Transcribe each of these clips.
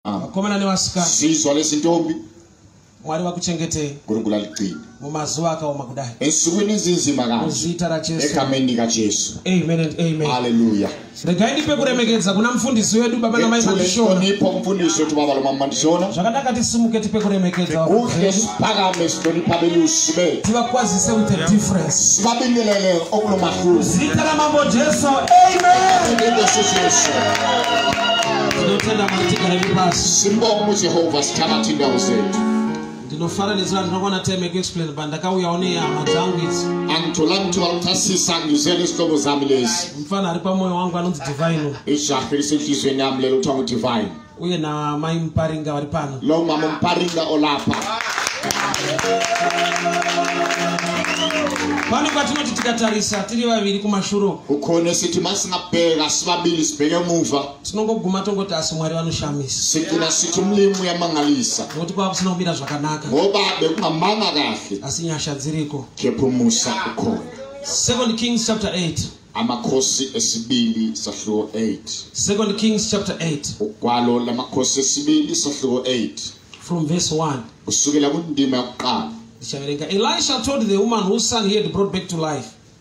Ah. vakomana nevasikana zizwa lezintombi mwari vakuchengetei nkulunkulu aligcine mumazuva akaoma kudai ensukwini ezinzima kanje muzita rajesu egameni likajesu amen and amen haleluya regai ndipe kuremekedza kuna mufundisi wedu baba namai mandishona tonipho mfundisi wethu baba lomama mandishona zvakadaka tisimuke tipe kuremekedza kuhle siphakame sihlonipha belusi bethu tivakwazise with a difference sibabingelele okulo mahluzi zita ramambo jesu amen Ngeso Jesu. tinotenda mwari tigare vepasi simbomu jehovha sitana tindawo zedu ndinofananidzira ndinokwana time yekuexplain but ndakauyawo nehama dzangu idzi mfana ari pamwoyo wangu anonzi divine uye namai muparinga vari pano lo mama muparinga olapa pane kwatinoti tikatarisa tiri vaviri kumashuro ukhona sithi masingabheka sibabili sibheke emuva tinongoguma tongoti asi mwari vanoshamisa siku na siku mulimu yamangalisa nokuti kwava kusina kumira zvakanaka ngoba bekungamanga kahle asi nyasha dziriko kepumusa ukhona second kings chapter 8 amakhosi esibili sahluko 8 second kings chapter 8 ugwalo lamakhosi esibili sahluko 8 from verse 1 kusukela kundima yokuqala ndichaverenga elisha told the woman whose son he had brought back to life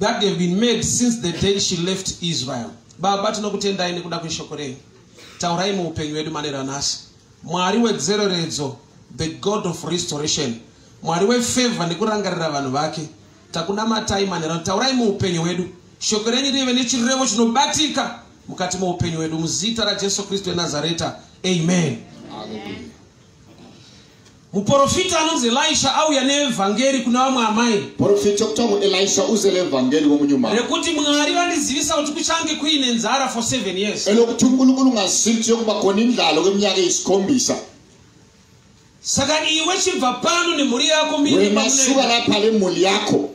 that have been made since the day she left israel baba tinokutendai nekuda kweshoko renyu taurai muupenyu hwedu maneranasi mwari wedzereredzo the god of restoration mwari wefevha nekurangarira vanhu vake takunamatai manherano taurai muupenyu hwedu shoko renyu rive nechirevo chinobatika mukati moupenyu hwedu muzita rajesu kristu enazareta amen, amen. muporofita anonzi elisha auya neevhangeri kuna vamwe amai porofita kuthiwa nguelisha uze leevhangeri komunyuma rekuti mwari vandizivisa kuti kuchange kuine nzara for seven years elokuti unkulunkulu ungazivi kuti yokuba khona indlalo kweminyaka eyisikhombisa saka iwe chibva pano nemhuri yako miwemasuka lapha lemhuli yakho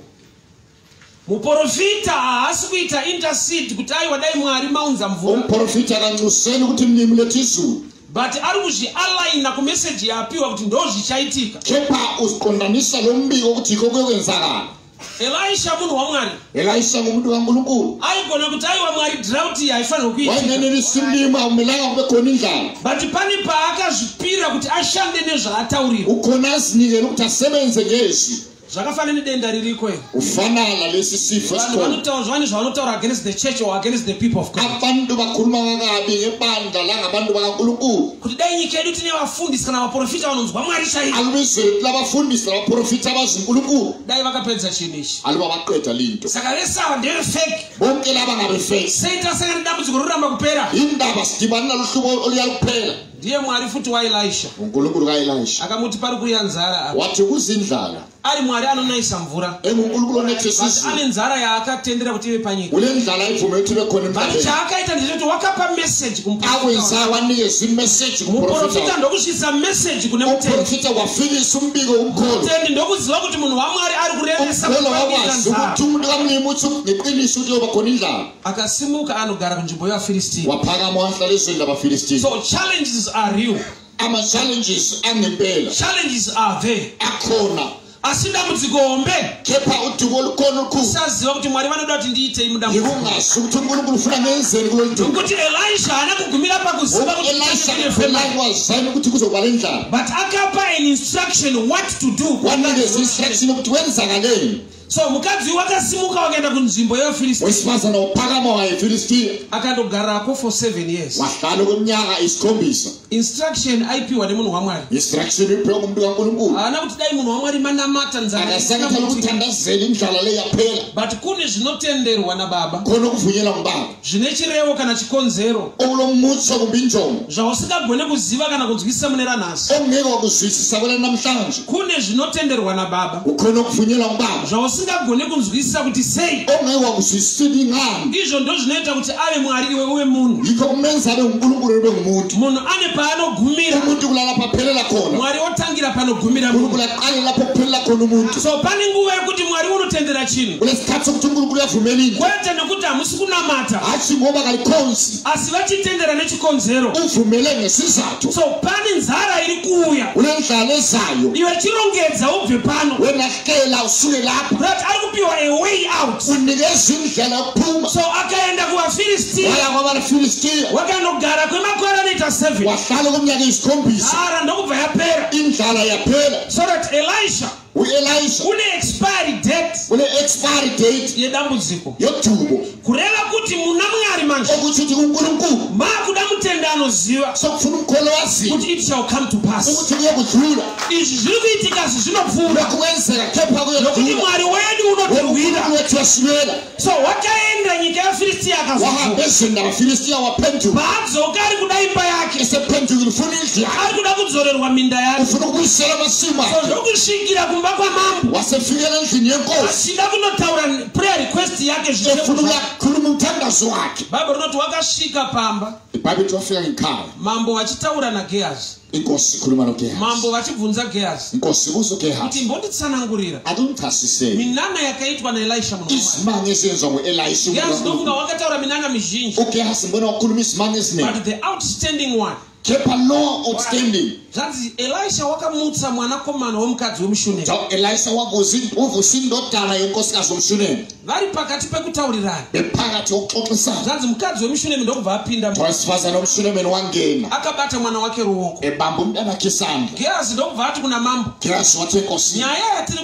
muporofita haasi kuita intercede kuti aiwa dai mwari maunza mvura umuporofita akanxuseni kuti mimi letizulu but ari kuzvialaina kumeseji yaapiwa kuti ndo zvichaitika kepa uziqondanisa lo mbiko kuti iko kuye kwenzakana elisha munhu wamwari elisha ngomunhu wangulukulu aigona kuti aiwa mwari draught iyi haifanirwe kuiwainenenisimlima aumelanga kube khona indlala but pane paakazvipira kuti ashande nezvaataurira ukhona azinikele ukuthi asebenze ngezwi zvakafanana nedenda ririko iri kufanana lesisifu vanhu vanotaura zvivane zvavanotaura against the church or against the people of god abantu vakuru vavakabi ngebandla langa bantu vakankulunkulu kuti dai nyika yedu tine vafundisi kana vaprofita vanonzwa mwari chaiyo alubizere tila vafundisi navaprofita vazinkulunkulu dai vakapedza chinhu ichi aluva vaqeda linto saka vese ava ndeve fake bonke lava ngave fake sei tasangana nedambudziko roramba kupera indaba sidibani naluhlubo oluya luphela ndiye mwari futi waelisha mungulukuru kaelisha akamuti pari kuuya nzara apa wati kuzi nzara ari mwari anonayisa mvura emungulukuru eh, anetisizi ane nzara yaakatendera kuti ive panyika une nzara ibvume kuti ive kone mvura but chaakaita ndechekuti wakapa message kumuprofita wanike zimessage kumuprofita ndokusvitsa message kune muprofita wafikisa umbiko umkolotendi ndokuziva kuti munhu wamwari ari kurevesa kuita nzara umkolo wamwazi kuti umudika munemuti neqiniso kuti yobakoni nzara akasimuka anogara kunzvimbo yevafiristia wapakama wahlalezoenda vafiristia so challenges are real ama challenges angempela challenges are there akhona asi dambudziko hombe kepa udumo olukona olukhulu saziva kuti mwari vanoda kuti ndiitei mudambudzikoungazi ukuthi unkulunkulu ufuna ngenzeni kulo nto ukuthi elisha haana kugumira pakuziva kutielishaazani ukuthi kuzokuba le ndlala but akapa an instruction what to do wanikeza instruction yokuthi wenzakaleni so mukadzi uyu wakasimuka wakaenda kunzvimbo yevafiristia wesimazana wopakama waefiristia akandogarako for seven years wahlale kweminyaka isikhombisa instruction aipiwa nemunhu wamwari instruction ipiwa kumntu kankulunkulu haana kuti dai munhu wamwari manamata nzaaasakatala kuthandazela indlala leyaphela but kune zvinotenderwa nababa khona kuvunyela ngubaba zvine chirevo kana chikonzero unomutsa kumbi njomo zvausingagone kuziva kana kunzwisisa mune ranhasi ongeke wakuzwisisa vana namhlanje kune zvinotenderwa nababa ukhona ukuvunyelwa ngubaba zvausingagone kunzwisisa kuti sei ongeke wakuzwisisa kuti ingani izvo ndo zvinoita kuti ave mwari iwe uve munhu yikho kumenza abe ngunkulunkulu ube ngumuntu munhu ane paanogumira umuntu kulala paphelela khona mwari otanga kutangira panogumira munhu Ngurukulu yaqalela lapho kuphelela khona umuntu. so pane nguva yekuti mwari unotendera chinhu Kunesikhathi sokuthi uNkulunkulu uyavumela into. kwete nekuti hamusi kunamata Hatshi ngoba kalikhonzi. asi vachitendera nechikonzero Uvumele ngesizathu. so pane nzara iri kuuya Kunendlala ezayo. iwe chirongedza ubve pano Wena akela usule lapho But ari kupiwa a way out. unikezwa indlela yokuphuma So akaenda kuvaFilistia waya kwabafilistiya wakanogara kwemakore anoita seven. wahlala okomnyaka eyisikhombisa Nzara ndokubva yapera. indlala yaphela So that Elisha u-elisha une expiry date une-expiry date yedambudziko. yodubo kureva kuti muna mwari manje okuchuti kunkulunkulu makuda mutende anoziva sokufuna umkholwa waziva kuti it shall come to pass ukuthi kuyokudlula izvi zviri kuitika asi zvinopfuura kukwenzeka kepha nokuti mwari wedu unotirwira wethu wasimela so wakaenda nyika yafiristiya wahamba ezweni labafilistiya waphenduka paadzoka ari kuda imba yake esephendukile ufuna indlu yakhe ari kuda kudzorerwa minda yake ufuna ukubuyisela amasimu so akhe zvokusvikira kumba kwamambo wasefikela endlini yenkosi asida kunotaura prayer request yake zvifunula kuri mutangazo wake bhaibheri rinoti wakasvika pamba bhaibheri wafika ngekhaya mambo vachitaura nagehazi inkosi khuluma nogehazi mambo vachibvunza gehazi inkosi buzo gehazi kuti mbonditsanangurira atimchasise minana yakaitwa naelisha muno izimanye esenziwa nguelisha gehazi ndofunga wakataura minana mizhinji ugehazi mbona wakhuluma izimanye eziningi but the outstanding one kept a law outstanding zvanzi elisha wakamutsa mwanakomana wemukadzi wemushunemi so elisha wavosindotara yonkosikazi wemushunemi vari pakati pekutaurirana bepakati yokuxoxisana zvanzi mukadzi wemushunemi ndokubva apinda twasifazana wemushunemi wangena akabata mwana wake ruoko ebambo mudanakisana gerazi ndokubva ati kuna mambo gerazi wati enkosi nyaya yatiri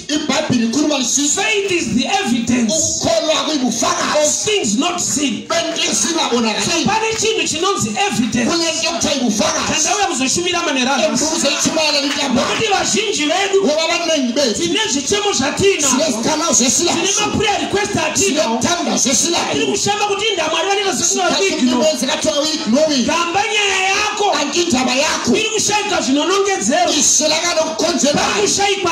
ibhaibheri kuri vanzwisisi faith is the evidence kukholwa kuyibufakazi of things not seen bento esingabonakali pane chinhu chinonzi evidence kune nto kuthiwa yibufakazi kanti auya kuzoshumira manera embuzo echimala litambo nokuti vazhinji vedu ngoba abaningi bethu tine zvichemo zvatina sinezikhalazo zesilayo tine maprayer request atina sinethanda zesilayo tiri kushamba kuti indamwari vanenge zvisingaignoigamba nyaya yako anti indaba yako iri kushayika zvinonongedzero iselakanokukonzera kushaikwa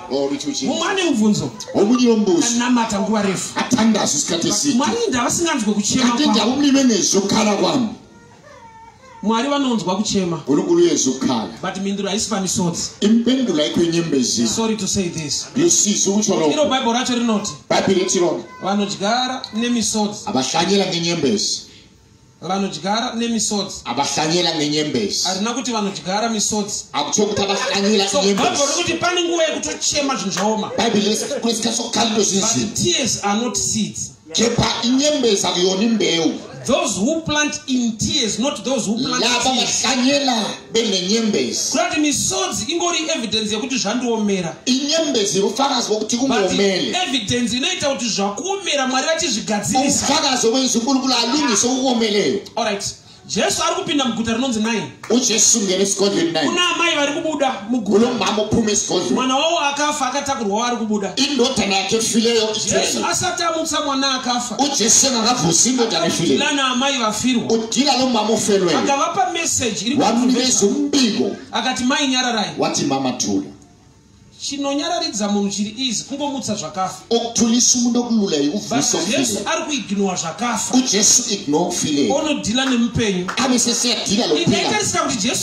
mumwe ane mubvunzo womunyiombuzianamata nguva refu mwari ndavasinganzwe kuchemaatendaumive nezvokhala kwam mwari vanonzwa kuchema guruguru yezvokhala but mhinduro haisi pamisodzi impendulo yaiko inyembezi sorry to say this yosiso kuchoroiro bhaibheri racho rinoti bhaibheri retirona vanodyara nemisodzi havashanyira nenyembezi vanodyara nemisodzi abahlanyela ngenyembezi arina kuti vanodyara misodzi akutsho kuti abahlanyela so bhaibheri kuti pane nguva yekutochema zvinhu zvaoma bhaibheri resikakuriska sokalilo zvinzii tears are not seeds kepa inyembezi akuyoni mbeu those who plant in tears not those who plant laba bahlanyela benenyembezi kuti misodzi ingori evidence yekuti zvandiomera inyembezi rufakazi wekuti kungoomele evidence inoita kuti zvakuomera mwari vachizvigadzirisa rufakazi wekuizukulukulo alungise kukuomeleyo allright jesu ari kupinda muguta rinonzi nai ujesu ngere sigodleni nai kuna amai vari kubuda muguta mama uphume sigodleni mwana wawo akafa akatakurwa waari kubuda indodana yake fileyo jesu asati amutsa mwana akafa ujese makabvusimbo tanefile lana amai vafirwa udila lo mama ufelwe akavapa message iri wamuvezi umbiko akati mai nyararai wati mama tula chinonyararidza munhu chiri izi kungomutsa zvakafa okutulisa umuntu okululayi uvusojesu ari kuignowa zvakafa ujesu ignore ufile onodhila nemupenyu aneseseyadhila lokuila ikaitarisika kuti jesu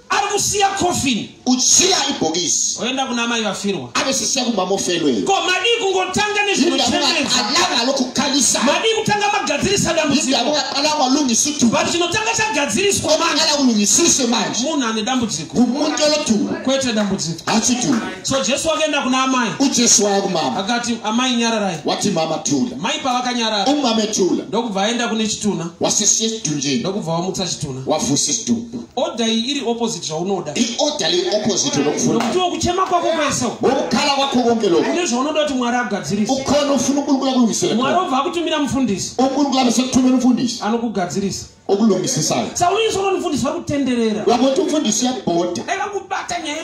ari kusiya coffin uchiya ibhokisi oenda kuna mai vafirwa avesisiya kumba mofelwe ko madii kungotanga nezvinochemezaanga lokukanisa madii kutanga magadzirisa dambudzikoaanga lungisithu but chinotanga chagadziriswa maala kulungisiswe manje munhu ane dambudziko kumuntu olothulu kwete dambudziko achithulu so jesu wakaenda kuna amai ujesu waya kumama akati amai nyararai wati mama thula mai pavakanyarara umame thula ndokubva aenda kune chituna wasisiye chidunjeni ndokubva wamutsa chituna wafusi chidumbu order iyi iri opposite zvaunoda iorder iri opposite unofuna kuti wokuchema kwako kwese wokukhala kwako konke lokho ine zvaunoda kuti mwari agadzirise ukhona ufuna unkulunkulu akulungisele mwari obva akutumira mufundisi unkulunkulu abe sekuthumela umfundisi anokugadzirisa okulungisisayo saulungisolo mfundisi vakutenderera vakuti umfundisi yabhoda ayakubata nyaya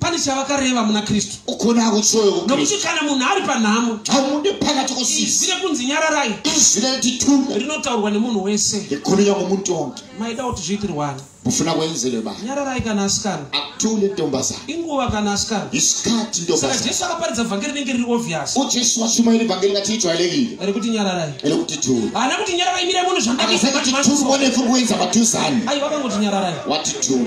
pane chavakareva muna kristu ukona kutsoyo nokuti kana munhu ari panhamo hamude pakati kosisi rine kunzi nyararai izwi randitume rinotaurwa nemunhu wese rikurunya kumutongi maida kuti zviitirwani mufuna kuenzere ba nyararai kana asikana atule ntombazana inguva kana asikana isikati ntombazana saka jesu akaparidza vhangeri rinenge riri obvious ujesu wachuma iri vhangeri ngati ijwa ilegile ere kuti nyararai ere kuti tule haana kuti nyararai mire munhu zvandaka akasaka kuti tule mone furi kuenza patuzani ayi wakangoti nyararai wati tule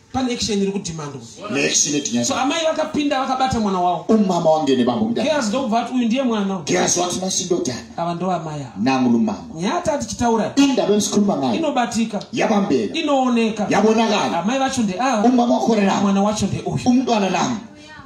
pane action iri kudhimandwa neaction yetinyasa so amai vakapinda vakabata mwana wavo umama wange nebambo mudhara gehazi ndokubva ati uyu ndiye mwana gehazi wati masindodhana ava ndo amai ava nangu lumama nyata tichitaura indaba emsikhuluma ngayo inobatika yabambeka inooneka yabonakala amai vacho ndeava umama wakhona na mwana wacho ndeuyu umntwana nami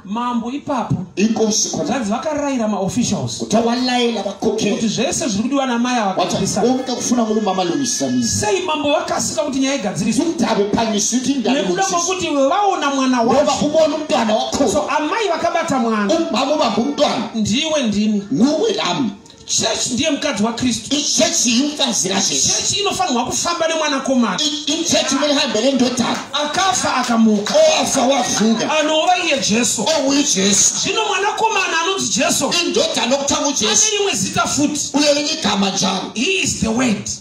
mambo ipapo inkosi zvanzi vakarayira maofficials kuti walaila vakoke kuti zvese zviri kudiwa namai avakaomuka kufuna muno mama luisani sei mambo vakasika kuti nyaya igadziriswe ndave panyisi kuti ndave nekuda kwekuti vaona mwana wavo kumona mntwana wakho so amai vakabata mwana umama ubamba mntwana ndiwe ndini nuwe lami church ndiye mukadzi wakristu ichechi yinfazira chechi inofanirwa kufamba nemwanakomana ichechi murihambe rendotana akafa akamuka oafa wavuka anova iye jesu ouyu oh, jesu zvino mwanakomana anonzi jesu indotana okutanga ujesu ane rimwe zita futi uyo rinyigama njaro he is the word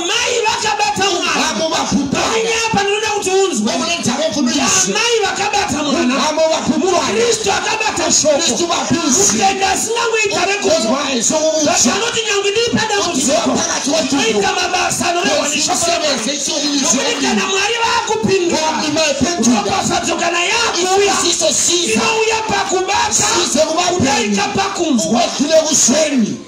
Amai vakabata mwana. Vamo vakupanga. Panya apa ndinoda kuti unzwe. Vamo nedzavo pfundo izi. Amai vakabata mwana. Vamo vakupanga. Kristu akabata shoko. Kristu vapizi. Kutenda asingangoita rekunzwa. Zvati anoti nyangwe ndiri padambudziko. Oita mabasa anorehwa neshoko raMwari. Nokuti kana Mwari vakupindura. Ropafadzo kana yakuuya. Inouya pakubata. Kudaika pakunzwa. Kune kuseni.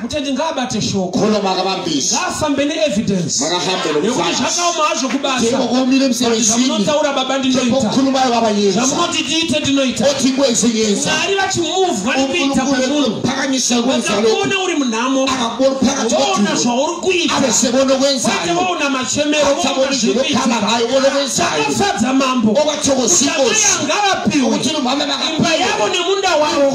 mutendi ngaabate shoko ngaafambe neevidence yekuti zvakaoma hazvo kubasamunotaura baba ndinoitazvamunoti tiite ndinoitamwari vachimuvwa nekuita kwemunhuakakuona uri munhamo voona zvauri kuitaate voona machemero voona zviriitakafadza mambo ukamayangavapiwe imba yavo nemunda wavo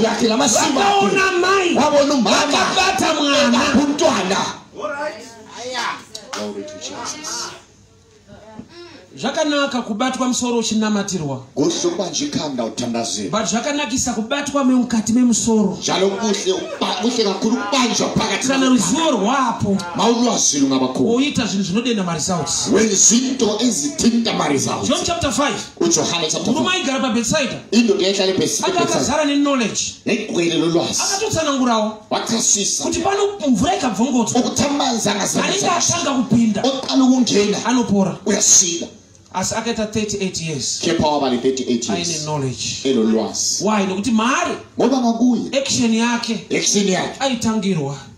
vakaona mai vakabata mwana kumtwana zvakanaka kubatwa musoro uchinamatirwa but zvakanakisa kubatwa memukati memusoro kana ruzivo rwapo woita zvinhu zvinodenda maresults john chapter 5 ujohane murume aigara pabhetsaida indoda yaitale pesiaka akazara neknowledge negwere lolwazi akatotsanangurawo wakasisa kuti pano mvura ikabvongodzwa ukutamanzangaanenge atanga kupinda oqala ukungena anopora uyasila asi akaita 38 years kepa wava ne38 aine knowledge elo lwazi why nokuti maari ngoba makuye action yake action yake aitangirwa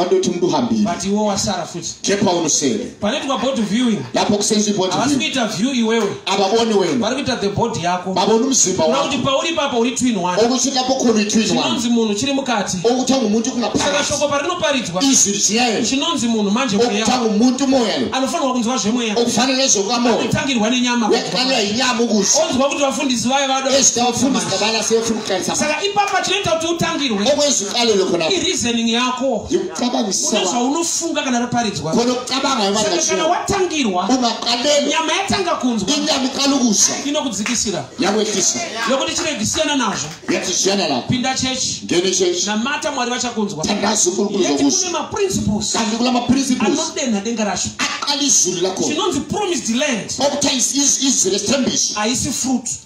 andoti muduhambiri but iwo wasara futi kepa unosere panoitwa board viewing lapo kusenzi board viewing kuita view iwewe ababoni wewe vari kuita the board yako baboni mzimba wako kuti pauri papa uri twin one okuchika pokuru twin one chinonzi munhu chiri mukati okutanga umuntu kuna pasi saka shoko parinoparidzwa izwi chiyaye chinonzi munhu manje mweya okutanga umuntu moya anofanirwa kunzwa zvemweya okufanira nezvoka moya kutangirwa nenyama wekanya inyama kusi onzwa kuti vafundisi vaye vado ezita vafundisi kabana sefuka saka ipapa chinoita kuti utangirwe ireasoning yako unezvaunofunga kana raparidzwa kana watangirwa nyama yatanga kunzwa inokudzikisira yokuti chiregi siyana nazvo pinda chechi namata mwari vachakunzwa kune maprinciples anodenha denga racho chinonzi promised land haisi fruit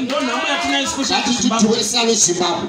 ndonhamo yatinayo sikushatiwesave zimbabwe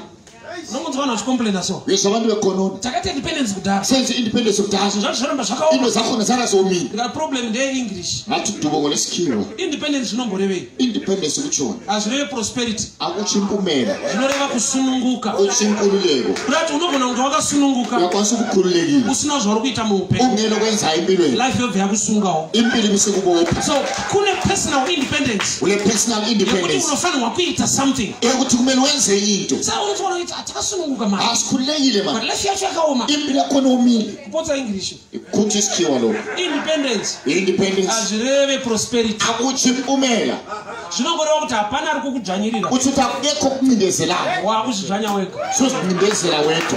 nokunzi vanhu vachicomplaina so yesa vanhu vekononi takaita independence kudhara sense independence kudhara zvinhu zvacho zvoramba zvakaoma ino zakona zarazoomini the problem ndeye english vati dubongo lesikirwa independence zvinomborevei independence kuchona hazvireve prosperity akuchimbumera zvinoreva kusununguka uchinkululeko kudati unogona kunge wakasununguka yakwanisa kukhululekile usina zvauri kuita muupenyu ungeno kwenza impilweni life yobva yakusungawo impili kusikubopa so kune personal independence une personal yekuti independence unofanirwa kuita something ekuti kumene wenze into sa unofanira kuita hatakasununguka mari asi kuneyile but mani life yacho yakaoma imbi lako noumile kupotsa english kuti sichiwa loko independence independence hazvireve prosperity akuchipumela zvinongoreva kuti hapana ari kukudzvanyirira kuti takudeko kumindezelana wakuzvidzvanya wega sozvimbezela weto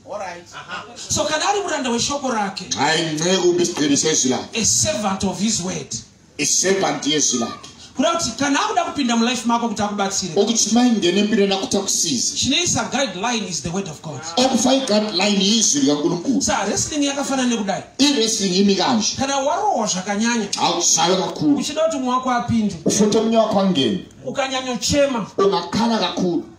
so kana ari muranda weshoko rake servant of his word servant yezwi lake kuda kuti kana akuda kupinda mulife mako kuti akubatsire okuti maingene mbire nakuti akusize chinoisa guideline is the word of god okufai guideline izwi rikankulunkulu sa wrestling yakafanana nekudai iwrestling imikanje kana warohwa zvakanyanya hausave kakulu uchida kuti mwe wako apinde ufote munye wako angene ukanyanyochema ungakhala kakulu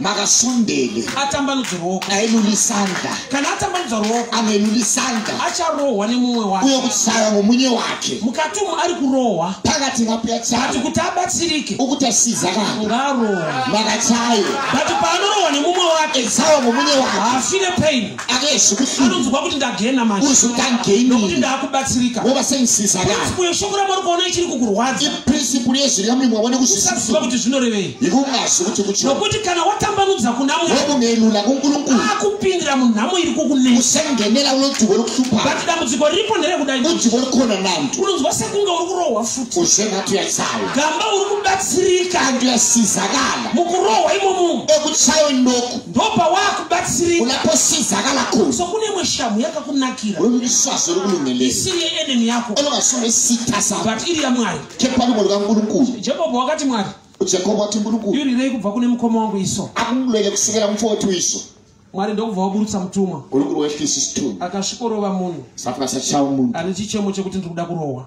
makasondele atambanudze ruoko ailulisanda kana atambanudza ruoko anelulisanda acharohwa nemumwe wake uye kutsaya ngomunye wake mukati umu ari kurohwa pakati ngapuyatsati kuti abatsirike ukuti asiza kanga ngarohwa makatsaya bati paanorohwa nemumwe wake etsaya ngomunye wake haafire paini anonzwa kuti ndagena mashinokuti ndaakubatsirika principle yeshoko ramwari kuona ichiri kukurwadza kuti zvinorevei nokuti kana watambanudza kuna mweakupindira munhamo iri kukunesabat dambudziko riripo nderekudai unonzwa sekunge uri kurohwa futi gamba uri kubatsirika mukurohwa imomo ndopawakubatsirika unaposiza akalakuru so kune imwe shamhu yakakunakira unomiswazo uri kunenelera isiri yeenemy yako unokasome sita sa but iri yamwari kepani munhu kangurukuru jehovha wakati mwari jehovha wati ngurukuru irirei kubva kune mukoma wangu iso akumulwele kusikira mupfo wetu iso mwari ndokubva waburutsa mutumwa akasvikorova munhu ane chichemo chekuti ndiri kuda kurohwa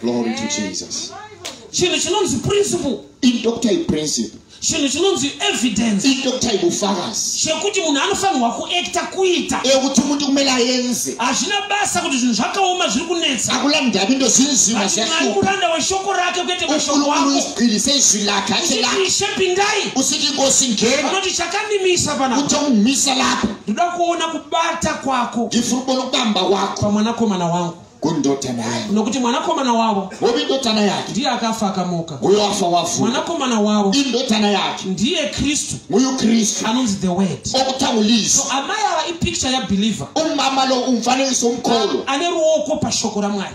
glory to jesus chinhu chinonzi principle indoktai principle chinhu chinonzi evidence indoktai bufakazi chekuti munhu anofanirwa kuekta kuita ekuti munhu kumele aenze hazvina basa kuti zvinhu zvakaoma zviri kunetsa akula ndavi ndozvinzima zvaumuranda weshoko rake kuete mashoko akoirise izwi lake acheishe pindai usiti ngosi ngena unoti chakamimisa panaa utomumisa lapo ndoda kuona kubata kwako ndifuna kubona ukubamba kwako pamwanakomana wangu kundotana yangu nokuti mwanakomana wavo hovi ndotana yake ndiye akafa akamuka uyo afa wafu mwanakomana wavo indotana yake ndiye kristu uyu kristu anonzi the word okutangulisa so amai ava ipicture yabeliever umama lo umfananiso umkholo ane ruoko pashoko ramwari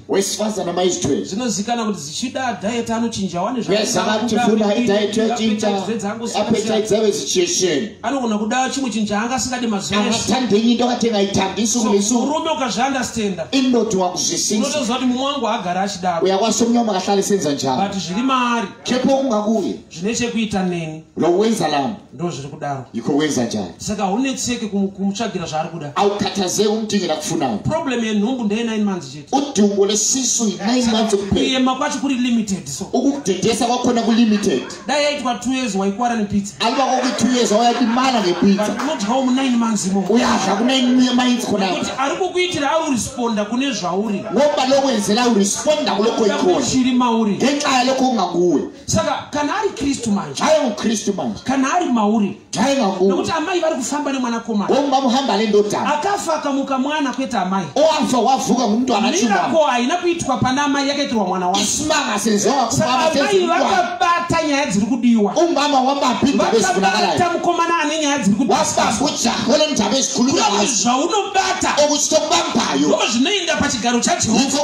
wesifaza namaistwe zvinozikana kuti zichida diet anochinja wane zvazava kuti funa idiet yochinja apeta dzave situation anogona kuda chimwe chinhu chaanga asingadi mazuva ese atandinyi ndokatenga itandisu kulisu murume ukazvi understanda inoti wakuzvisisa unotoziva kuti mumwe wangu agara achidaro uya kwasomnyo makahlale senza njani but zviri maari kepo kungakuye zvine chekuita neni lowenza lambo ndozviri kudaro iko wenza njani saka haunetseki kumutsvagira zvaari kuda aukatazei umudingila kufunawo problem yenhumbu ndeye 9 months chete udumbu lesisu 9 months kuyema kwacho kuri limited so ukukudedesa kwakhona kulimited dai yaitwa 2 years waikwara nepizza aliba kokuti 2 years wayadimana ngepizza but unodyawo mu 9 months imo uyadya ku 9 months khona kuti ari kukuitira ari uresponda kune zvauri ngoba lokwenzela uresponda kulokho ikhona chiri mauri ngenxa yalokho ungakuwe saka kana ari kristu manje ave mukristu manje kana ari mauri ave mamuri nokuti amai vari kufamba nemwanakomana o mamuhamba ale ndota akafa akamuka mwana kwete amai o afa wavuka ngumntu anachimirako haina kuitwa pana amai yakaitirwa mwana wake isimanga sezoaamai vakabata nyaya dziri kudiwa umama wamapindavakabata mukomana ane nyaya dziri kudiwazvaunobata okuchitokubampayo o zvinoenda pachigaro chajehova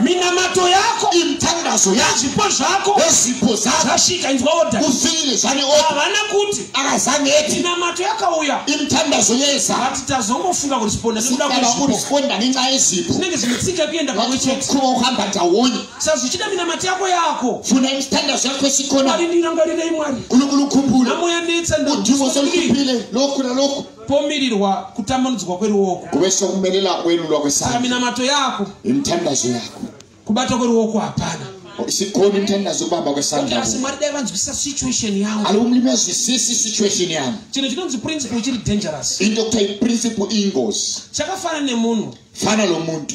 minamato yako imitangazvo yako zvipo zvako wezvipo zako zvasvika inzwa oda ufire zvane oda havana kuti akazaneti minamato yakauya imitangazvo yeza vati tazongofunga kuti siponda nekuda kwezvipo siponda nenyaya yezvipo zvinenge zvinetsika kuenda pamwe chete kuva uhamba taoni sa zvichida minamato yako yako funa imitangazvo yako yesikona ari ndinangwarirei mwari unokulukumbura namoya netsa ndaudiwo solikupile loku na loku pomirirwa kutambanudzwa kweruoko kuve sokumelela kwelulwa kwesaka minamato yako imithandazo yako kubata kweruoko hapana sikhona imithandazo kubamba kwesandla asi mwari dai vanzwisisa situation yavo ali umlimi azwisisi situation yavo chinhu chinonzi principle chiri dangerous into kuthiwa iprinciple ingozi chakafana nemunhu fana lo muntu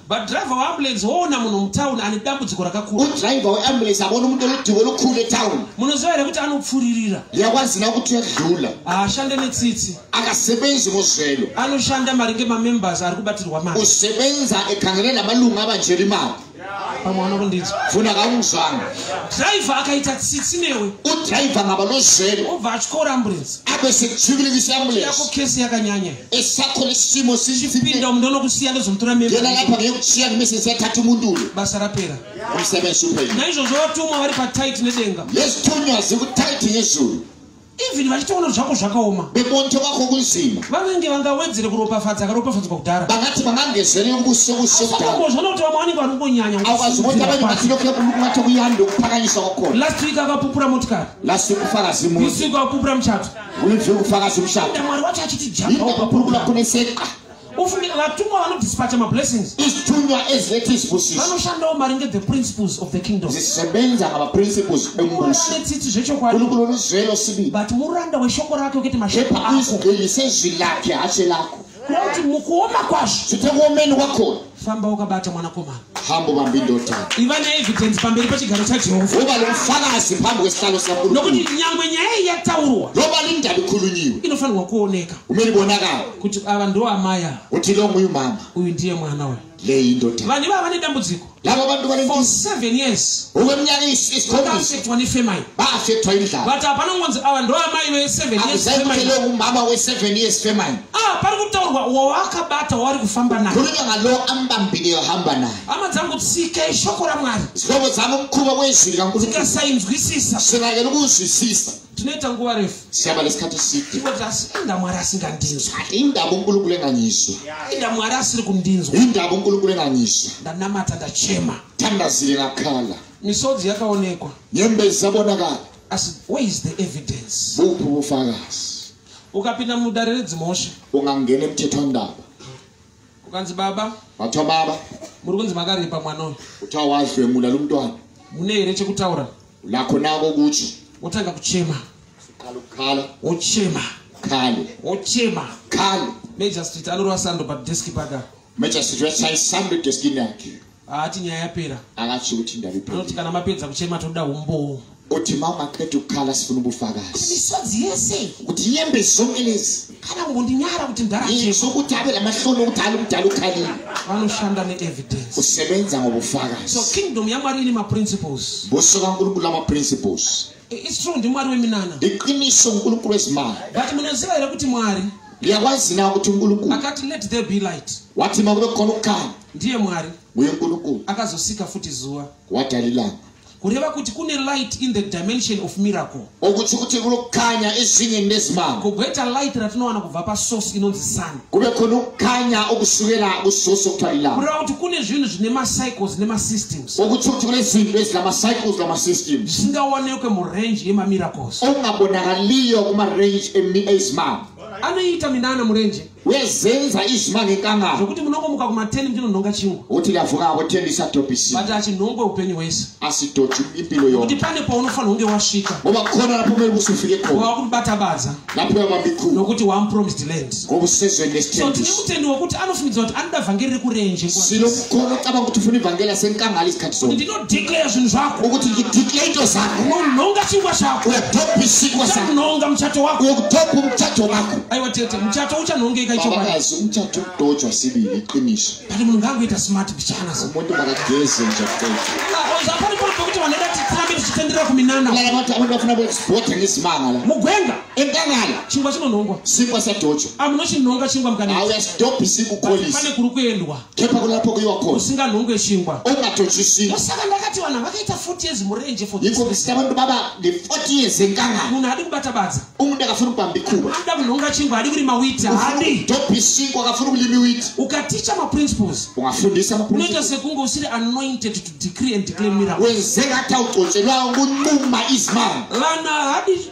But driver wa ambulance woona munhu mutown ane dambudziko rakakura. U driver wa ambulance abona munhu anodiwa lokule town. Munoziva here kuti anopfuririra. Yakwazina kuti yadlula. Ashande netsitsi. Akasebenzi muzvelo. Anoshanda maringe ma members ari kubatirwa mari. Usebenza ekhangele namalunga abanjeri mali. Pamwe anokundidza. Funa kamuzana. Driver akaita tsitsi newe. U driver ngabalozvelo. Obva achikora ambulance. Abe sekuchivirisa ambulance. Yako case yakanyanya. esakho lesimo sichipinda umuntu onokusiya ndozomtora mimba yena lapha ngeyokusiya kumesese athatha umuntu ulo basa laphela umsebenzi uphela naizvozvo vatumwa vari patight nedenga lesithunywa zikutight yezulu even vachitoona zvako zvakaoma bemonto vako kunzima vanenge vangawedzere kuropafadza akaropafadzwa kudhara vangati vangangezere ubuso buso kudharaozvona kuti vamwe vanenge vanongonyanya last week akapupura motikari last week kufara zimu isiku akupupura muchato Uridzi wekufaka chimushando. Enda Mwari wacho achiti jamba. Enda kupurukura kuneseka. Ufunge vatumwa vanodispatcha mablessings. Isitunywa ezvetis busis. Vanoshandawo maringe the principles of the kingdom. Zisebenza ngama principles embusi. Kune tsitsi zvechokwadi. Kune kuno ruzvero sibi. But muranda weshoko rake ukete mashoko ako. Epa izwi sezwi lake hache lako. Kuti mukuoma kwazvo. Kuti kuomeni kwakona. Famba wakabata mwanakomana. Hambo bambi ndota. Iva ne evidence pamberi pechigaro chaJehovha. Uva nomufakazi phambi kwesihlalo sakuru. Nokuti nyangwe nyaya iyi yataurwa. Noba lindabi khulunyiwe. Inofanirwa kuoneka. Kumele bonakala. Kuti ava ndo amaya. Kuti lo nguyu mama. Uyu ndiye mwana uyu. vanhu ivava vane dambudziko for seven years vakaafektwa nefemai but hapana ngonzi ava ndo amai veseven yeaumama weseven years femai ah pari kutaurwa wawakabata waari kufamba naye kureva ngalo ambambile yohamba naye hama dzangu tsika ishoko ramwari zihlobo dzangu mukhuva wezwi rikasainzwisisa zvinakeni kuzwisisa tinoita nguva refu siyaba lesikhathi side ingoti asi inda mwari asingandinzwi indaba unkulunkulu enganyiswa inda mwari asiri kundinzwa indaba unkulunkulu enganyiswa ndanamata ndachema thandazile ngakhala misodzi yakaonekwa nyembezi zabonakala asi where is the evidence buphi ubufakazi ukapinda mudare redzimhosva ungangena emthetho wendaba ukanzi baba vathiwa baba muri kunzi makaripa mwana uyu kuthiwa wadlwengula lo mntwana mune here chekutaura Nako nako kutsva. Wotanga kuchema. Kalo kalo. Wochema. Kalo. Wochema. Kalo. Major Street anorova sando pa desk paka. Major Street wachayi sando desk yake. Haati nyaya yapera. Akatsi kuti ndaripo. Anoti kana mapedza kuchema toda umbowo. Kuti mama ketu kala sifuna ubufakazi. Misodzi yese. Kuti nyembe zonke lezi. kana kungondinyara kuti ndaraizvo kuti ave namahloni okuti ali mudala ukhalile vanoshanda neevidence kusebenza ngobufakazi so kingdom yamwari ine maprinciples buso kankulunkulu amaprinciples its true ndimwari weminana iqiniso nkulunkulu wezimali but munoziva here kuti mwari ndiyakwazi na kuti nkulunkulu akati let there be light wathi makube khona ukukhanya ndiye mwari nguye nkulunkulu akazosika futhi zuwa wadala ilanga kureva kuti kune light in the dimension of miracle okuti kuti kunokanya ezvinye ndezimamo kugweta light ratinowana kubva pasource inonzi sun kube kunokanya okusukela kusource okutwalila kureva kuti kune zvinhu zvine macycles nemasystems okuti kuti kune zvinhu ezina macycles namasystems zvisingaonekwe murange yemamiracles okungabonakaliyo kumarange ezimamo anoita minana murenje wezenza izvimangekanga zvekuti munongomuka kuma 10 ndinonhonga chingwa uti ndavuka ako 10 isatopisi but achinhongwe upenyu hwese asi tochu impilo yo kuti pane paunofanira kunge wasvika umakona napo mwe kusufike ko wa kubata badza napo ya mabiku nokuti wa promised land ko kusezwe next so tine mutendi wekuti anofungidzwa kuti anoda vhangeri rekurenje kwa sino kukona kaba kuti funi vhangeri asenkanga alisikatso Declare zvinhu zvako. Ukuti declare into zako. Unononga chingwa chako. Uyadopa isikwa zako. Unononga muchato wako. Uyadopa muchato wako. Aiwa tete, muchato uchanongeka icho baba. Baba muchato kutojwa sibi iqiniso. Bali munhu ngangoita smart bichana. Umuntu makageze muchato. Ah, Zvapari pano pekuti vanhu veda titambe tichitendera kuminana. Lava vati abantu vafuna kuexporta ngesimanga la. Mugwenga. Enkangala. Chingwa chinonongwa. Sikwa sadocho. Amunochinonga chingwa mkanetsa. Auya stop isiku police. Pane kuri kuendwa. kepa kuna poko iwa ko usinga lungwe chingwa onga to chisi usaka ndakati wana vakaita 40 years murenje for this iko sita vandu baba the 40 years nganga munhu adi kubata badza umu ndakafuna kwambi ku anda kunonga chingwa adi kuri mawita hadi to pisi kwa kafuna kuli miwit ukaticha ma principles ungafundisa ma principles unoita sekunga usiri anointed to decree and declare miracle wenzeka tauto chelwa ngu numa is man lana hadi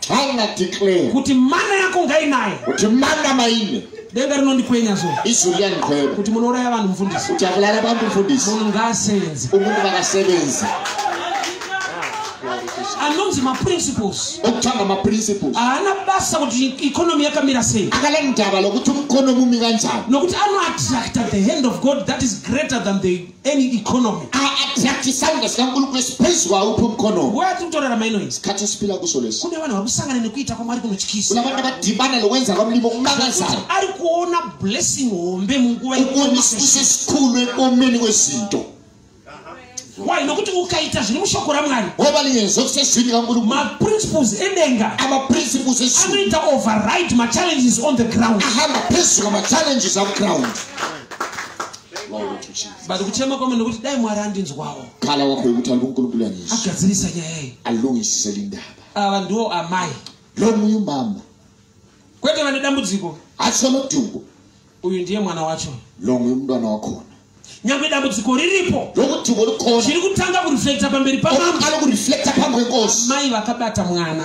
Tana declare. Kuti mana yako ngainaye. Kuti mana maine. Denga rinondikwenya so. Izulu yandikwenya. Kuti munouraya vanhu mfundisi. Kuti akulala vanhu mfundisi. Munhu ngaasenze. Umuntu vakasebenza. anonzi maprinciples okutanga maprinciples haana basa kuti economy yakamira sei akala ndava lokuti mukonomi umira njani nokuti anoattracta the hand of god that is greater than the any economy aattracti sanga sikangunuko space waupo mkono waya tiri kutorera maino izi kati sipila kusolesi kune vanhu vakusangana nekuita kwamwari kunotyisa kuna vanhu vakadhibana lowenza kwamlimo kumakazara ari kuona blessing hombe munguva ikuonisise sikulu ekomeni wezinto why nokuti ukaita zviri mushoko ramwari maprinciples edenga anoita override machallenges on the ground vaona tuchi but kuchema kwamwe nekuti dai mwari andinzwawo kala wako yekuti ari kukulukula nisi agadzirisa nyaya iyi alungisise lindaba ava ndiwo amai lomuyu mama kwete vane dambudziko asi vanotungo uyu ndiye mwana wacho lomuyu mudwana wakona nyangwe dambudziko riripo lokutungo likona chiri kutanga kureflecta pamberi pamama lokureflecta pamwe kosi mai vakabata mwana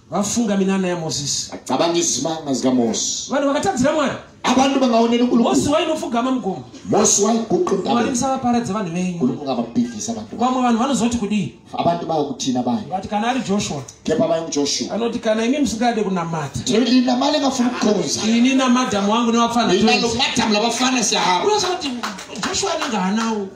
vafunga minana yamosisi acabanga izimanga zikamosi vanhu vakatadzira mwari abantu bangaonela unkulunkulumosi wainofugama mugomo mosi waiguqumwari musavaparadze vanhu venyu unkulunkulu angababhidlisa abantu vamwe vanhu vanozoti kudii abantu bayokuthina bani vati kana ari joshua kepa bayo ngujoshua anoti kana imi musingade kunamata lina mali engafuna ukukhonza ini namadhamu wangu newafana lina lomadamu labafana siyahamba Joshua anenge hanawo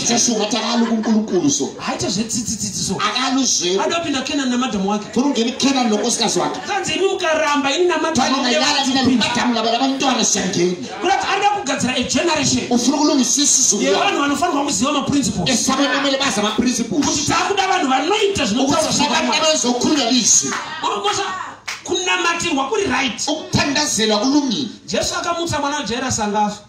Joshua takalo kunkulukulu so haite zvetsitsitsitsi so akalo zve adopinda Kenan namadam wake turungeni Kenan nokosikazi wake kanzi ini ukaramba ini namadam wake yala tina madam laba laba ntwana shangeni kurati arida kugadzira a generation ufuna kulungisisa izulu ye vanhu vanofanirwa kuziva ma principles esaba namele baza ma principles kuti takuda vanhu vanoita zvinokuti zvakati vanozokhulula izwi ngokuti kunamatirwa kuri right ukuthandazela kulungile Jesu akamutsa mwana wa Jairus angafa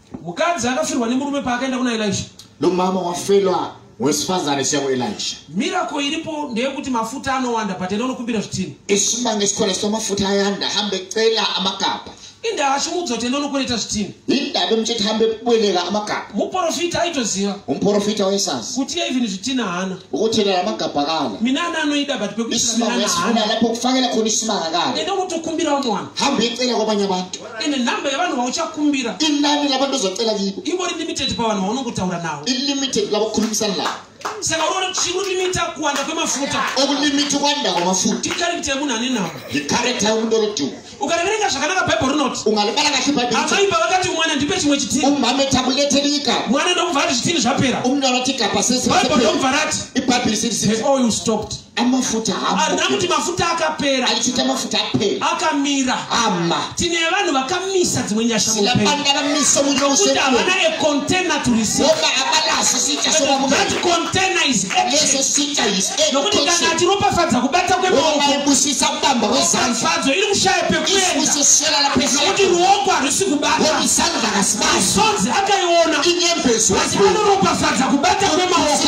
mukadzi akafirwa nemurume paakaenda kuna elisha lomama wafelwa wesifazane siya kuelisha mirako iripo ndeyekuti mafuta anowanda but enda unokumbira zvitini isimba ngesikwela sito mafuta ayanda hambe cela amakapa inda achimuudza kuti enda unokwereta zvitini indaba muchiti hambe kubweleka amakapa muprofita aitoziva umuprofita waisasi kuti iye even zvitina haana ukuthelela amagabha kala mina ana anoida but pekuisima wesifuna lapho kufakela khona isimanga kala enda unotokumbirawo mwana hambe icela kwabanye abantu ene nhamba yevanhu vauchakumbira inani lava ndozotela viko ingori limited pavanhu vaunongutaura navo ilimited lavakukhulumisana lavo saka unoona kuti chikulimita kuwanda kwemafuta okulimita ukwanda kwamafuta tikarikita yemunhu ane nhamba ikarikita yemunhu orotiwa ukariverenga zvakanaka bhaibheri rinoti ungalibala kahle bhaibheri amai baba vati mwana ndipe chimwe chitini umhame takuleterika mwana ndomubva ati zvitini zvapera umntu anoti kapasesi bhaibheri ndomubva rati ibhaibheri sirisi oh you stopped amafuta arina kuti mafuta akapera achiita mafuta apera akamira ama tine vanhu vakamisa dzimwe nyasha mupenzi havana a container to receive that container is nokuti kana atiropafadza kubata kwemaokofadzo iri kushaya pekuendaokuti ruoko harisi kubatasonzi akaiona asi anoropafadza kubata kwemaoko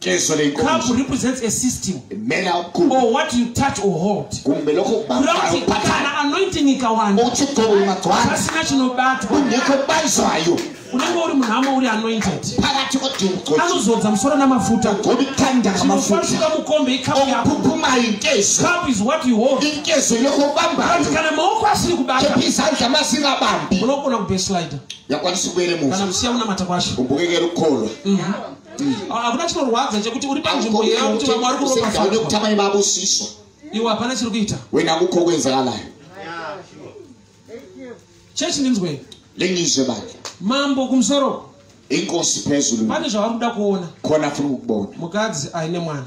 Cup represents a system or what you touch or hold. Kurati kana anointing ikawanda pasina chinobatwa unenge uri munhamo uri anointed anozodza musoro namafuta chinofanuka mukombe ikapu yakokapu is what you hold kana maoko asiri kubata unogona kubeslider kana musiya unamata kwacho umbukekerukolwa mhm. hakuna mm. chinorwadza chekuti uri panzvimbo yeva kuti vamwe vari kuropafaune kuti amai vavo siswa iwe hapana chiri kuita wena kuko kwenzakalayo chechi ndinzwei lengizve bake mambo kumusoro inkosi pezulu pane zvavari kuda kuona kona furi kukubona mukadzi aine mwana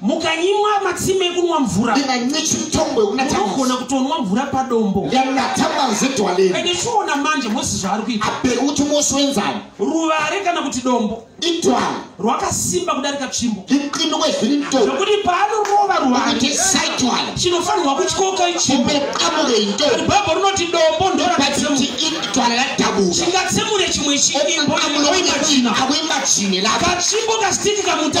mukanyimwa matsime ekunwa mvura unogona kutonwa mvura padombo and ichiona manje mose zvaari kuita ruvare kana kuti dombo rwakasimba kudarika tsvimbo zvekuti paanorova ruvare chinofanirwa kutyoka ichimbo bhaibho rinoti dombo ndoratingatsemure chimwe chiimbo katsvimbo kasitiki kamuta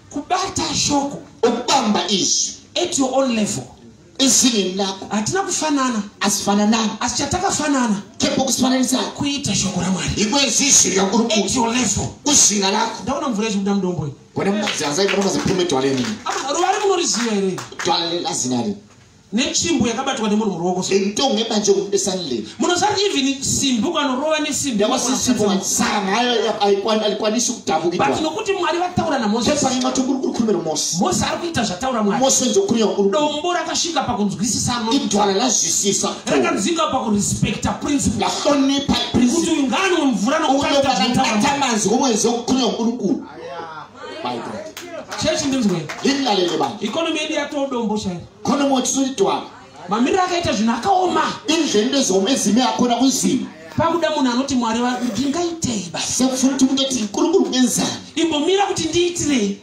kubata shoko ukubamba izwi at your own level izini lako hatina kufanana asifananani asi chatakafanana kepo kusifananisa kuita shoko ramwari ikwezi izwi rakuri at kuti your level kuzvinga lako ndaona mvura ichikuda mudombo iyi kone mumazi anzai kone mazipime twaleni ama ruva rimwe unoriziva here twaleni azinari netsvimbo yakabatwa nemunhu muruoko so itonge manje ude suddenly munozati even simbi ukanorova nesimbi yawasisipo watsara nayo aikwanisi kutambukirwa but nokuti mwari vataura namose pari mati kuri kuri kurumira mose mose ari kuita zvataura mwari mose nzo kuri yakuru dombo rakasvika pakunzwisisa no idwala lazwisisa rakanzinga pakurespecta principle lahlonipa principle kuti uyu ngaanwe mvura nokuita zvataura mwari manzi womwenzi wokuri yakuru kuru my god chechi ndinzwe lingalele bani economy yedu yatodombo chairo kono motswitwa mamiriro akaita zvinhu akaoma izvendezome zime akona kuzima pakuda munhu anoti mwari vangu ndingaitei basa sekufuna kuti mungati kurukuru kunyenzana imbomira kuti ndiitirei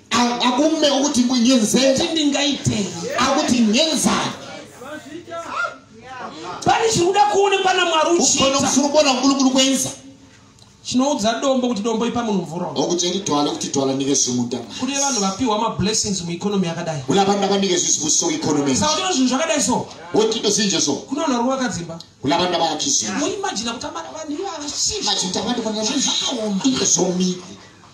akume okuti kunyenzeti ndingaitei akuti nyenzana pane chiri kuda kuonekwa namwari uchikona kufuna kuona kulukuru kwenza chinoudza dombo kuti dombo ipa munhu mvura okucheri twala kuti twala nike zvimuda kune vanhu vapiwa mablessings mueconomy yakadai kune vanhu vakanike zvizibuso economy saka tino zvinhu zvakadai so wotito zinje so kune vanhu vari vakadzimba kune vanhu vavakizvi muimajina kuti vanhu ivavachizvimachitavandivanazvakaoma ike zvomi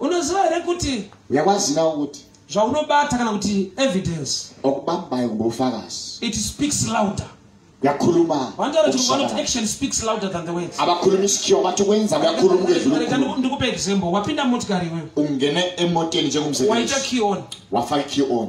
unoziva here kuti uyakwaziva kuti zvaunobata kana kuti evidence okubambayo kumbe ufakazi it speaks louder yakhuluma vantaura kuti one of action speaks louder than the words abakhuluma isikhiwa bathi ukwenza kuyakhuluma ukezulu ndikupe example wapinda motikari iweyo ungene emoteni njengomsebenzi wayita key on wafaka key on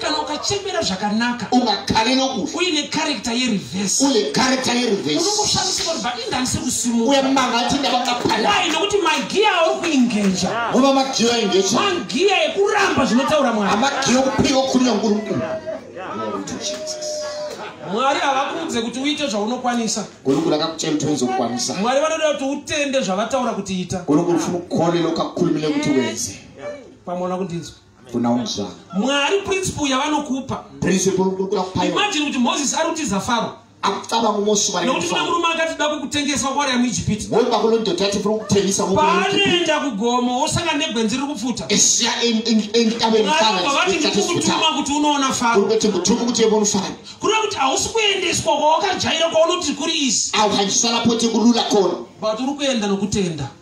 kana ukachembera zvakanaka ungakale nokufa uine karekta yereverse uine karekta yereverse unongoshamisika kuti but indanise kusimuka uye manga ati ndavakapaya why nokuti magiya auri kuingeja ngoba magiya aingeja magiya ekuramba zvinotaura mwari amagiya okupiwa kunya nguru mkuru mwari havakuudze kuti uite zvaunokwanisa gonokuri akakuchai kuti uizokwanisa mwari vanoda kuti utende zvavataura kuti ita gonokuri funa ukhole lokakhulumile kuti wenze pamwe ona kundinzwa kuna umzwana mwari principle yavanokupa principle ukukuda kupa imagine kuti moses ari kutiza faro akucabanga umosi wari nokuti kuna murume akati da kukutengesa kwari yamuijipiti woba kuno ndoda ati furi kutengesa paanoenda kugomo wosanga negwenzi riri kupfuta esiya entabevati ndikukutuma kuti unoona faro kuti ndikutuma kuti yevonu faro kuri kuti hausi kuendeswa kwawakajaira kwaunoti kuri izi aukandisala poti kurula kono but uri kuenda nokutenda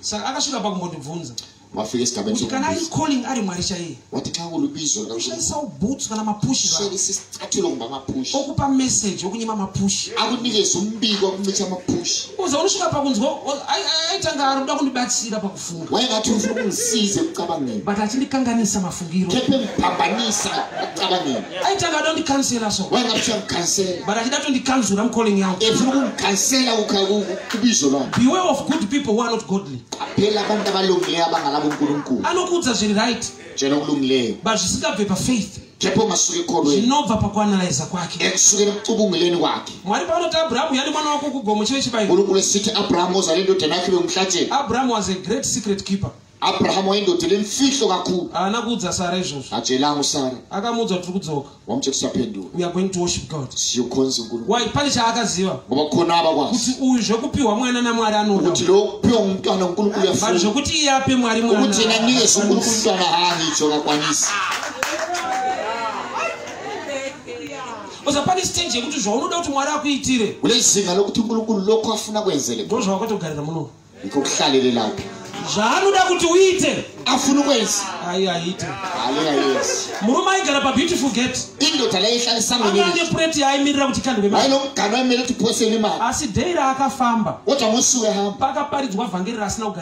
saka akasvika pakumbondibvunza kuti kana ari calling ari mwari chaiye ushandisawo boots kana mapushokupa message okunyima mapushoza unosvika pakunzwa aitanga ari kuda kundibatsira paku but achindikanganisa mafungiro aitanga adondikansela so but achida tondikanzura mucalling yao beware of good people who are not godly anokuudza zviri right but zvisingabve pafaith Ndipo masuka ekorweni. Zvinobva pakuanalaiza kwake. Ekusukira kucubunguleni kwake. Mwari paanoti Abrahamu yani mwana wako kugomo chive chibairo. Nkulunkulu esiti Abrahamu uzale indodana yake vemuhlache. Abrahamu was a great secret keeper. Abrahamu waindoda lemfihlo kakhulu. Haana kuudza Sara izvozvo. Hachelangu Sara. Akamuudza kuti tiri kudzoka. Wamuti kusapendura. We are going to worship God. Siyokhonza uNkulunkulu. Why? Pane chaakaziva. Ngoba khona abakwazi. Kuti uyu zvekupiwa mwana naMwari anoda. Kuti lo kupiwa umntwana uNkulunkulu uyafuna. Vanhu zvekuti iye ape Mwari mwana. Ukuthi yena nikeze uNkulunkulu umntwana haani icho kakwanisa. bcause pane stage yekuti zvaunoda kuti mwari akuitire kune zinga lokuti nkulunkulu loko afuna kuenzele ko zvawakatogarira muno ikokuhlalelelapi zvaanoda kuti uite afuna ukwenzi ayi aite ayiayenzi murume aigara pabeautiful gate indoda laihlalisisaane preti yaaimirira kuti kandweainogana aimere kuti pose nemari asi dei raakafamba wota musi wehamba pakaparidzwa vhangeri raasina kugara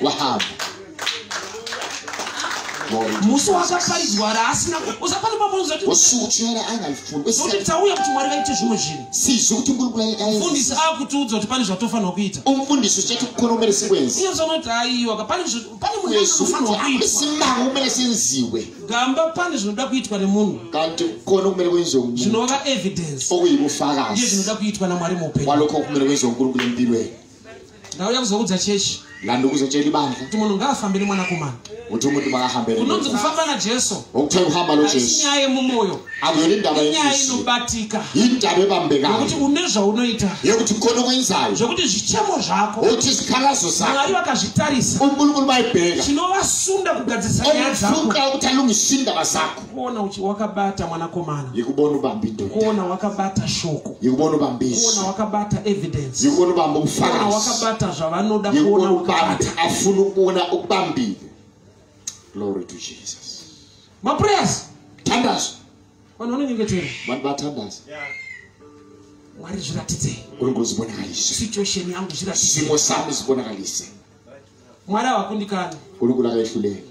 Wahab. musi wakaparidzwa raasina usapane pamozotiuchera anga mfundo kuti tauya kuti mwari vaite zvimwe zvinhu sizvo kuti mfundisi akutiudza kuti pane zvatofanirwa kuita umfundisi uchati kukonomere sikwenzi iye zvanoti aiwa pane pane munhu anofanirwa kuitwa simbango umene senziwe gamba pane zvinoda kuitwa nemunhu kanti kona kumere kwenziwa munhu zvinova evidence okuyi kufakazi iye zvinoda kuitwa namwari mupe waloko kumere kwenziwa mukuru kune mbiro ndauya kuzoudza chechi ngandukuzo cheni bandla kuti munhu ngaafambe nemwanakomana kuti umuntu makahambe kunonzi kufamba najesu okuthe kuhamba nojesu inyaya yemumoyo akuyona indaba inyaya inobatika indaba ebambekayo yokuti une zvaunoita yekuti kona kwenzayo zvokuti zvichemo zvako okuti zikhalazo zako mwari vakazvitarisa unkulunkulu bayibheka chinovasunda kugadzirisa nyaya dzako okufuka ukuthi alungise indaba zakho kuona uchi wakabata mwanakomana yikubona ubambi ndoda kuona wakabata shoko yikubona ubambi isu kuona wakabata evidence yikubona ubambi ubufakazi kuona wakabata zvavanoda kuona wakabata afuna ukuona ubambile glory to jesus ma prayers tandazo vanhu vanonyengetera vanhu vatandazo yeah mwari zviratidzei uri ngozi bonakalise situation yangu zviratidzei simo sami zibonakalise mwari hawakundikani uri kulaka ihluleki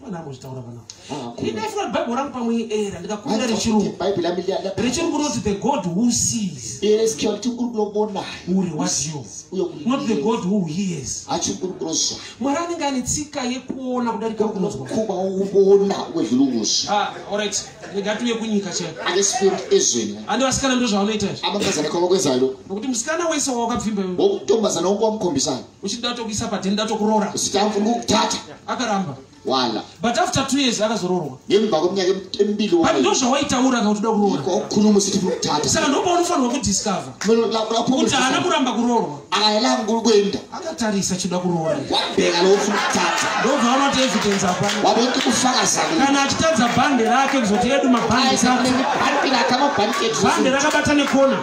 mwana amozvitaura pana ndindaifuna kuti bhaibheri rangu pamwe era ndikakumbira rechirungu rechirungu rinoti the god who sees uri was you not the god who hears mwari anenge ane tsika yekuona kudarika kunzwakuona wezvirunguzi ah, orit negatuye kunyika chaandi vasikana ndozvavanoita izvi nokuti musikana wese wawakabvimba wokutombazana wongo wamukhombisana uchiti ndatokuisa padhe ndatokuroora zitafungukutata akaramba wala but after two years akazoroorwa nemva kweminyaka emibili but ndo zvawaitaura ka utida kuroora kokhuluma usithi funa ukuthatha saka ndoba unofanirwa kudiscover kuti haana kuramba kuroorwa akaela mkulu kwenda akatarisa chida kuroora wabheka lo ufuna ukuthatha ndobva anoti evidence apa wabonke kufakaza kana achitadza bhande rake kuzoti edu mabhande bhande rakabata nekona